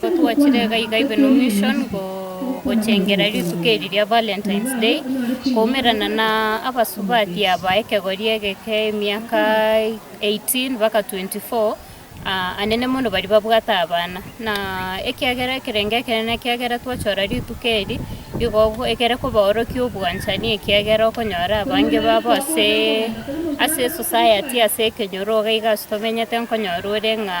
Gotwachire igaiga Ibeno Mission gochengera rituko eri ria Valentine's Day koumerana na abasubati aba ekegori egeke emiaka 18 mpaka 24, anene mono baria babwate abana. Na ekiagera ekerenge ekenene ekiagera twachora rituko eri igo egere kobaorokia obwanchani ekiagera okonyora abange babo ase ase esociety ase ekenyoro iga tomenyete nkonyora ore ng'a.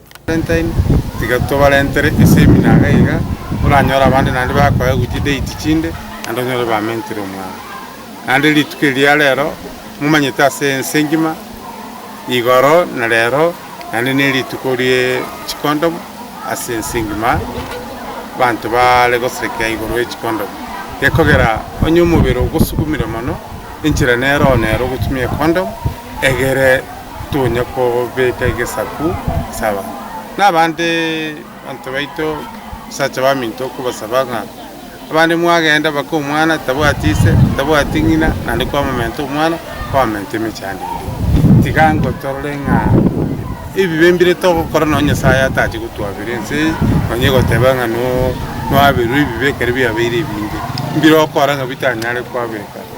Valentine, tiga tobarentere esemina iga iga, oranyore abande naende bakoe gochia date chinde, naende onyore bamentire omwao. Naende rituko eri ria rero, momanyete ase ense engima, igoro na rero, naende nerituko rie chikondom ase ense engima, abanto bare goserekea igoro ye chikondom. Gekogera onye omobere ogosukumire mono, enchera nero nero ogotumia ekondom, egere. tonya kobeka egesaku ase abanto. Na abande abanto baito abasacha baminto okobasaba ng'a abande mwagenda baka omwana tabwati ise, tabwati ng'ina naende kwamomenta omwana, kwamomenta emechie yande ende. Tiga ango torore ng'a ebibe mbire togokora nonya Nyasaye atache gotwabera ense eye nonya goteba ng'a no nwaberwe ebibe ekero biabeire ebinge, mbire okora ng'a bitanyare kwabeka.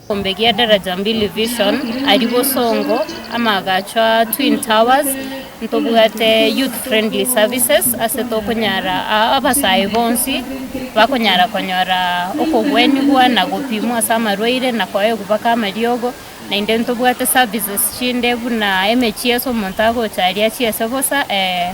Egekombe gia Daraja Mbili Vision aria bosongo, amaagacho a Twin Towers, ntobwate Youth Friendly Services ase tokonyara aa abasae bonsi bakonyara konyora okogwenigwa na gopimwa ase amarwaire na koegwa baka amariogo, naende ntobwate services chinde buna emechie ase omonto agocha aria chiese bosa ee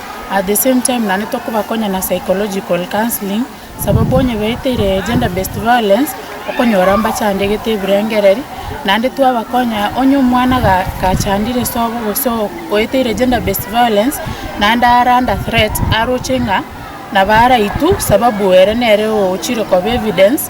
at the same time naende tokobakonya na psychological counselling, sababu onye baeteire gender based violence, okonyora mbachandegete ebirengereri, naende twabakonya onye omwana ga gachandire sobo gose o oeteire gender based violence, naende are under threat, aroche ng'a nabo araitwe sababu ere nere ochire koba evidence.